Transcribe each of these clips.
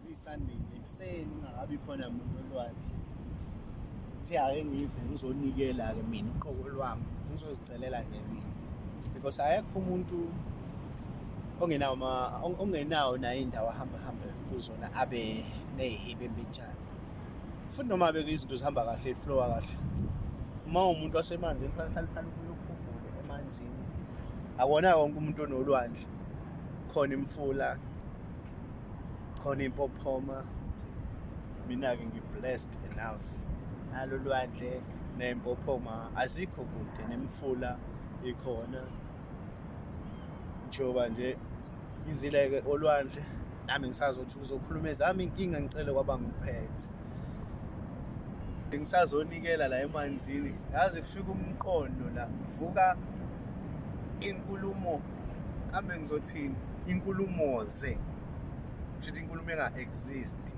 ziyi-sunday nje ekuseni ungakabi khona muntu olwandle thi ake ngize ngizonikela-ke mina uqobo lwami ngizozicelela nje mina because akekho umuntu ongenawo ma- on- ongenawo nayo indawo ahamba hambe kuzona abe neyihibe mbinjani futhi noma beke izinto zihamba kahle iflowa kahle uma umuntu wasemanzini kufanele uhlale uhlale ukhulukhumbule emanzini akona wonke umuntu onolwandle khona imfula khona impophoma mina-ke ngi-blessed enough nalo lwandle ney'mpophoma azikho kude nemfula ikhona njengoba nje izileke olwandle nami ngisazothi uzokhuluma ezami inkinga ngicele kwaba ngiphethe ngisazonikela la emanzini yazi kufika umqondo la kuvuka inkulumo kambe ngizothini inkulumo ze kushuthi inkulumo enga-exist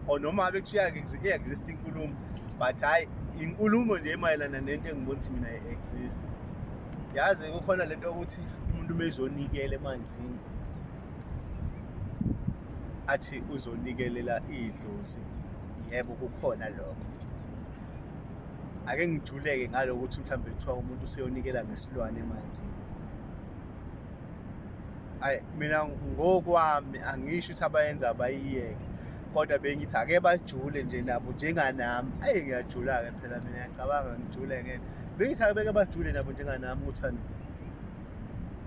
or noma abe kuthiwa iya-exist inkulumo but hhayi inkulumo nje emayelana nento engibona ukuthi mina i-exist yazi kukhona lento yokuthi umuntu uma ezonikela emanzini athi uzonikelela idlozi yebo kukhona lokho ake ngijuleke ngalo ukuthi mhlawumbe kuthiwa umuntu useyonikela ngesilwane emanzini hayi mina ngokwami angisho ukuthi abayenza abayiyeke kodwa bengithi ake bajule nje nabo njenganami ayi ngiyajula-ke phela mina ngiyacabanga ngijule ngeke bengithi ake beke bajule nabo njenganami ukuthani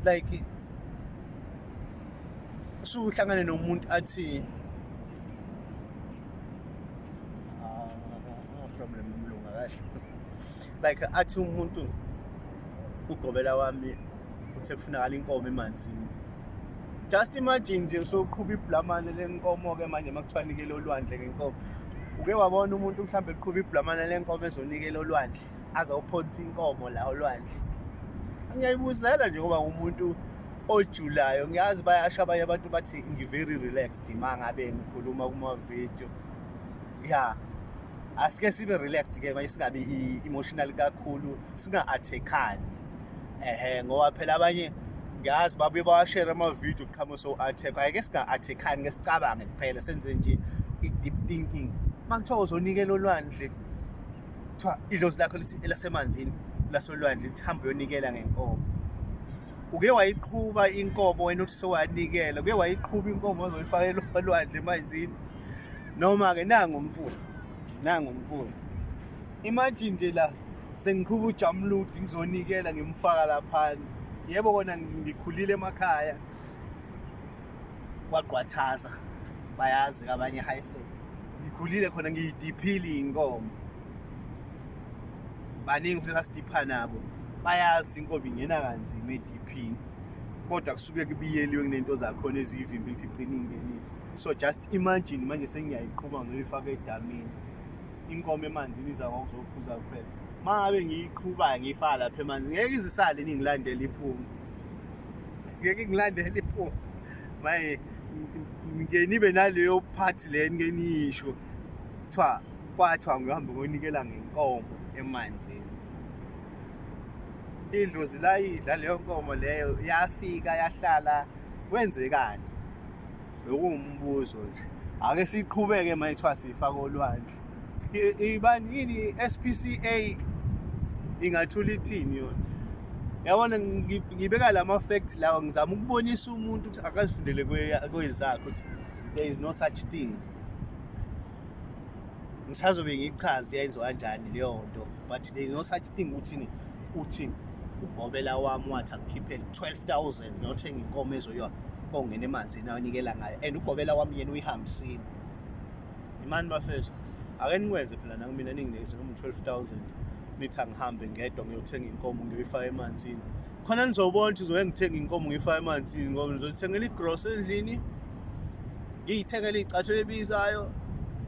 like usuhlangane nomuntu athi No problem mlunga kahle. Like athi umuntu ugobela wami uthe kufunakala inkomo emanzini. Just imagine nje usoqhuba iblamane lenkomo ke manje makuthiwa nikele olwandle ngenkomo. Uke wabona umuntu mhlambe eqhuba iblamane lenkomo ezonikela olwandle azawuphonsa inkomo la olwandle. Ngiyayibuzela nje ngoba umuntu ojulayo ngiyazi bayasho abanye abantu bathi ngi-very relaxed uma ngabe ngikhuluma kuma-video ya asike sibe relaxed ke manje singabi emotional kakhulu singa-attackani ehe ngoba phela abanye ngiyazi babuye bawashere ama-video qhamuka so-attack ayeke singa-attackani ke sicabange kuphela senze nje i-deep thinking uma kuthiwa uzonikela olwandle kuthiwa idlozi lakho lithi elasemanzini lasolwandle lithi hambe uyonikela ngenkomo uke wayiqhuba inkomo wena uthi sowanikela uke wayiqhuba inkomo ozoyifakela olwandle emanzini Noma-ke nangu umfula, nangu umfula. Imagine nje la sengiqhuba ujamuludi ngizonikela ngimfaka laphana. Yebo kona ngikhulile emakhaya kwagqwathaza bayazi kabanye high fat. Ngikhulile khona ngiyidiphile inkomo. Baningi futhi asidipha nabo. Bayazi inkomo ingena kanzima ediphini. Kodwa kusuke kubiyeliwe kunento zakhona eziyivimba ukuthi igcine ingenile. so just imagine manje sengiyayiqhuma ngiyoyifaka edamini inkomo emanzini iza ngokuzophuza kuphela uma ngabe ngiyiqhuba ngiyifaka lapha emanzi ngeke izisale ningilandela iphume ngeke ngilandela iphume maye ngike nibe naleyo part le nike niyisho kuthiwa kwathiwa ngihambe ngonikela ngenkomo emanzini idlozi layidla leyo nkomo leyo yafika yahlala kwenzekani Bekuwumbuzo nje. Ake siqhubeke manje kuthiwa sifaka olwandle. Ibani yini SPCA ingathula ithini yona? Yabona ngibeka lama facts lawa ngizama ukubonisa umuntu ukuthi akazifundele kwezakhe ukuthi there is no such thing. ngisazobe ngichaze yayenziwa kanjani leyo nto but there is no such thing ukuthi uthi ugobela wami wathi angikhiphe 12000 ngiyothenga inkomo ezoyiwa kongena emanzini ayonikela ngayo and ugobela wami yena uyihambisile imani bafethu ake nikwenze phela nakumina ninginikeze noma 12000 nithi angihambe ngedwa ngiyothenga inkomo ngiyoyifaka emanzini khona nizobona ukuthi ngizoke ngithenge inkomo ngiyifake emanzini ngoba ngizozithengela igross endlini ngiyithengele iy'cathelo ebizayo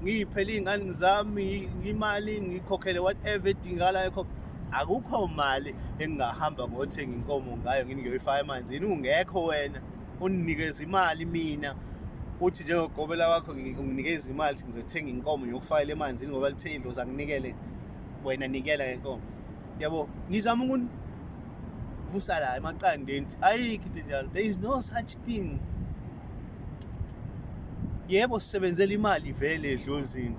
ngiyiphele iy'ngane zami imali ngikhokhele whatever edingakalayo kho akukho mali engingahamba ngothenga inkomo ngayo ngini ngiyoyifaka emanzini ungekho wena undinikeza imali mina uthi njengogobela wakho unginikeza imali ukuthi ngizothenga inkomo ngiyokufakela emanzini ngoba lithe idlozi anginikele wena nikela ngenkomo yabo ngizama ukuvusa la emaqandeni ukuthi ayikho into enjalo there is no such thing yebo sisebenzela imali vele edlozini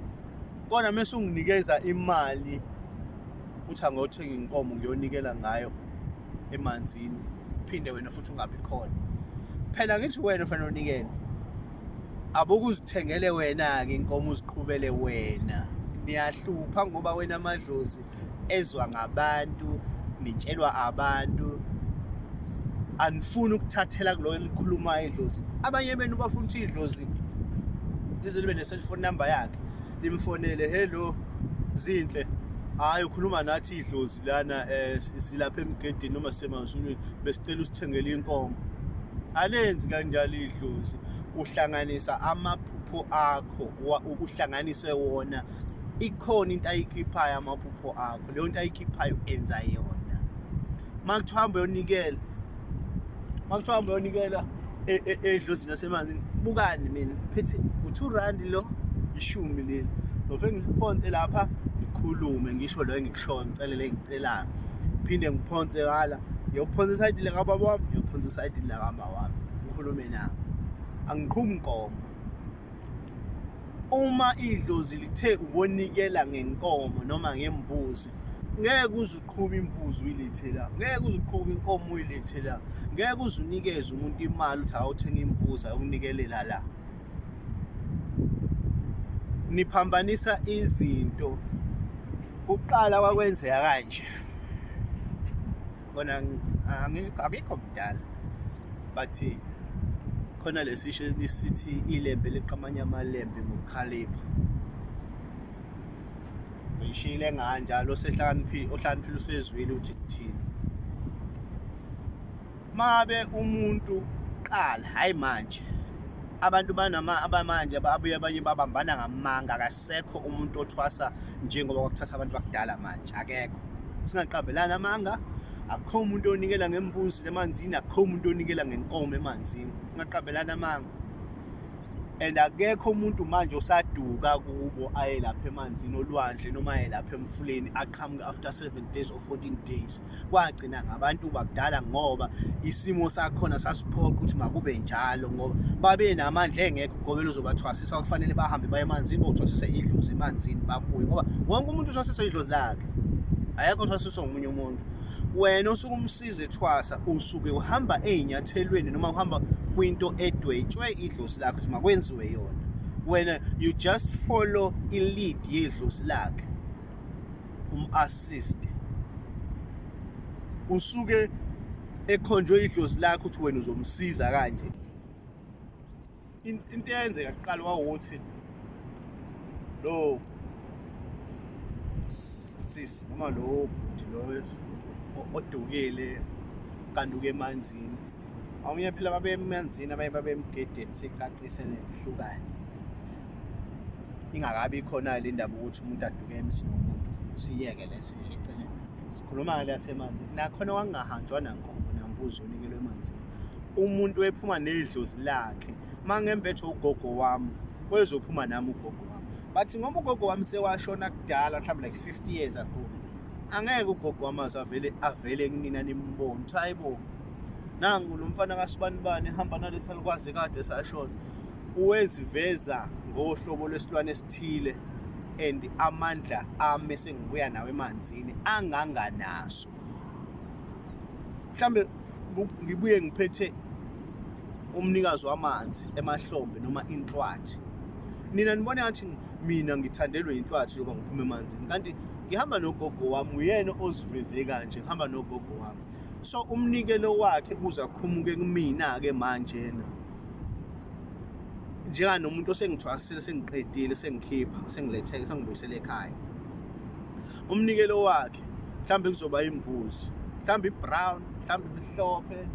kodwa mese unginikeza imali uthi angothenga inkomo ngiyonikela ngayo emanzini phinde wena futhi ungabi khona phela ngithi wena fanele unikele abokuzithengele wena-ke inkomo uziqhubele wena niyahlupha ngoba wena amadlozi ezwa ngabantu nitshelwa abantu anifuni ukuthathela kulo elikhuluma idlozi abanye benu bafuna ukuthi idlozi lize libe ne-cellphone number yakhe limfonele hello zinhle hhayi ukhuluma nathi idlozi lana um silapha emgedini noma sisemazulwini besicela usithengele inkomo alenzi kanjalo idlozi uhlanganisa amaphupho akho uhlanganise wona ikhona into ayikhiphayo amaphupho akho leyo nto ayikhiphayo enza yona uma kuthiwa hamba uyonikela uma kuthiwa hamba uyonikela e, e, edlozini yasemanzini bukani mina phethe u-two rand lo ishumi leli nove ngiliphonse lapha ngikhulume ngisho loyo engikushoyo ngicelele engicelayo phinde ngiphonse kala ngiyophonsa isayidi lakababa wami ngiyophonsa isayidi lakamama wami ngikhulume nabo angiqhumi nkomo Uma idlozi lithe ukonikela ngenkomo noma ngembuzi ngeke uze uqhume imbuzi uyilethe la ngeke uze uqhume inkomo uyilethe la ngeke uze unikeze umuntu imali uthi awuthenga imbuzi akunikelela la niphambanisa izinto kuqala kwakwenzeka kanje kona akekho mdala but khona lesisho lisithi ilembe liqamanya amalembe ngokukhalipha ngishile nganjalo osehlakaniphile ohlakaniphile usezwile ukuthi kuthini mabe umuntu qala hayi manje abantu banama abamanje ababuye abanye babambana ngamanga akasekho umuntu othwasa njengoba kwakuthasa abantu bakudala manje akekho singaqabelani amanga akukho umuntu onikela ngembuzi emanzini akukho umuntu onikela ngenkomo emanzini singaqabelani amanga and akekho umuntu manje osaduka kubo aye lapha emanzini olwandle noma aye lapha emfuleni aqhamuke after 7 days or 14 days kwagcina ngabantu bakudala ngoba isimo sakhona sasiphoqa ukuthi makube njalo ngoba babe namandla engekho Gobela uzobathwasisa kufanele bahambe baye emanzini bothwasisa idlozi emanzini babuye ngoba wonke umuntu uthwasisa idlozi lakhe ayekho uthwasiswa ngomunye umuntu wena osuke umsize ethwasa usuke uhamba ezinyathelweni noma uhamba kwinto edwetshwe idlozi lakhe ukuthi makwenziwe yona wena you just follow i-lead yedlozi lakhe um-assist usuke ekhonjwe idlozi lakhe ukuthi wena uzomsiza kanje into eyenzeka kuqala wawukuthi lo sisi noma lo bhuti lo odukile kanduke emanzini omunye phela babemanzini abanye babemgedeni sicacise le ihlukane ingakabi khona le ndaba ukuthi umuntu aduke emzini womuntu siyeke lesi eceleni sikhuluma ngale yasemanzini nakhona wangingahanjwa nankomo nambuzi onikelwe emanzini umuntu ephuma nedlozi lakhe mangembethe ugogo wami kwezophuma nami ugogo wami but ngoba ugogo wami sewashona kudala mhlawumbe like 50 years ago angeke ugogo wami azavele avele kunina nimbone ukuthi hayi bo nangu lo mfana kasibanibani ehamba nalesalukwazi kade sashona uweziveza ngohlobo lwesilwane esithile and amandla ami sengibuya nawo emanzini anganganaso mhlambe ngibuye ngiphethe umnikazi wamanzi emahlombe noma inhlwathi nina nibona ngathi mina ngithandelwe inhlwathi yoba ngiphume emanzini kanti ngihamba nogogo wami uyena oziveze kanje ngihamba nogogo wami so umnikelo wakhe kuze akhumuke kumina-ke manjena njenganomuntu osengithwasile sengiqedile sengikhipha sengiletheke sengibuyisele ekhaya umnikelo wakhe mhlawumbe kuzoba imbuzi mhlawumbe ibrown mhlawumbe imhlophe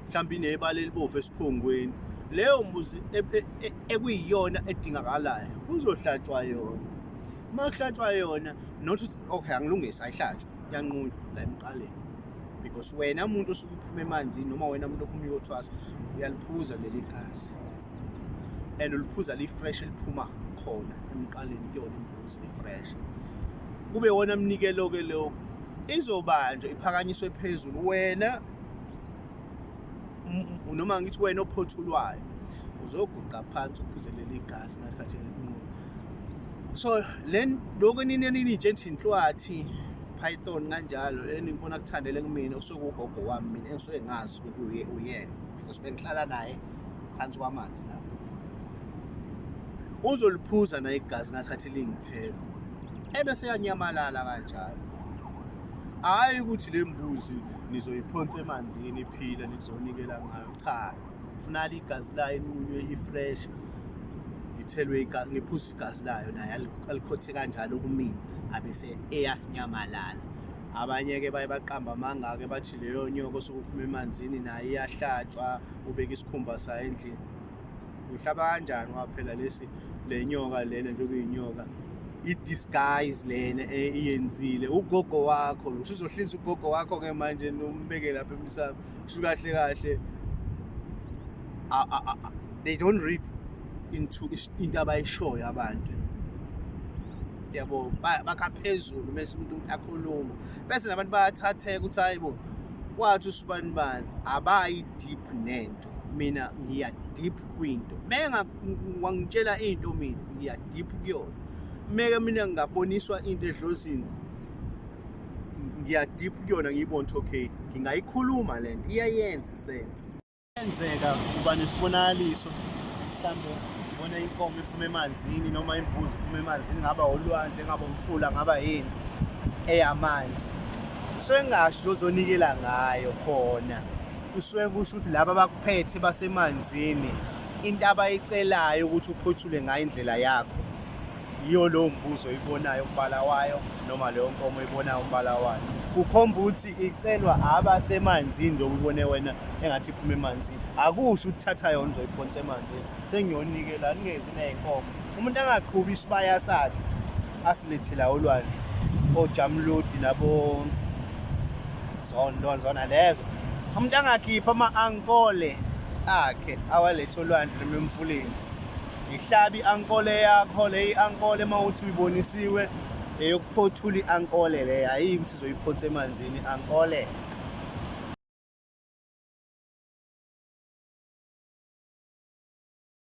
mhlawumbe inebala elibovu esiphongweni leyo mbuzi e, e, e, ekuyiyona edingakalayo kuzohlatshwa yona uma kuhlatshwa yona not okay angilungisa ayihlatshwa yanqunywa la emqaleni because wena muntu osuke uphuma emanzini noma wena muntu ophuma uyothwasa uyaliphuza leli gazi and uliphuza li-fresh eliphuma khona emqaleni kuyona Christ be fresh kube wona mnikelo ke lo izobanjwa iphakanyiswe phezulu wena noma ngithi wena ophothulwayo uzoguqa phansi uphuzelele igazi ngesikhathi enqulu so len lokho nini nini njenthi inhlwathi python kanjalo enibona kuthandele kumina usuke ugogo wami mina engisuke ngazi ukuthi uyena because bengihlala naye phansi kwamanzi la uzoliphuza na igazi ngasikhathi lingithela ebese yanyamalala kanjalo hayi ukuthi le mbuzi nizoyiphonsa emanzini iphila nizonikela ngayo cha funala igazi layo inqunywe i-fresh ngithelwe igazi ngiphuza igazi layo naye alikhothe kanjalo kumina abese eyanyamalala abanye-ke baye baqamba amanga-ke bathi leyo nyoko sokuphuma emanzini nayo iyahlatshwa ubeka isikhumba sayo endlini uhlaba kanjani waphela lesi le nyoka lena njengoba iyinyoka i-disguise lena e, iyenzile ugogo wakho lo usuzohlinza ugogo wakho-ke manje nombeke lapha emsamo kusho kahle kahle they don't read into into abayishoyo abantu yabo bakha phezulu mese umuntu akhuluma bese nabantu bayathatheka ukuthi hayi bo wathi usibanibani abayi deep nento mina ngiya deep kwinto menga wangitshela into mina ngiya deep kuyona meke mina ngingaboniswa into edlozini ngiya deep kuyona ngiyibona ukuthi okay ngingayikhuluma lento iyayenza isense Kuyenzeka uba nesibonakaliso mhlawumbe ubona inkomo iphuma emanzini noma imbuzi iphuma emanzini ngaba olwandle ngaba umfula ngaba yini eyamanzi kusuke kungasho ukuthi ozonikela ngayo khona kusuke kusho ukuthi laba abakuphethe basemanzini into abayicelayo ukuthi uphothule ngayo indlela yakho yiyo lowo mbuzo oyibonayo umbala wayo noma leyo nkomo oyibonayo umbala wayo kukhomba ukuthi icelwa abasemanzini njengoba ubone wena engathi iphuma emanzini akusho ukuthi thatha yona uzoyiphonsa emanzini sengiyonike la ningezi ney'nkomo umuntu angaqhubi isibaya sakhe asilethela olwandle ojamludi nabo zondo zona lezo umuntu angakhipha ama-ankole akhe awalethe olwandle noma emfuleni Ngihlabe i-ankole yakho le i-ankole uma uthi uyibonisiwe eyokuphothula i-ankole le hhayi ukuthi uzoyiphotha emanzini i-ankole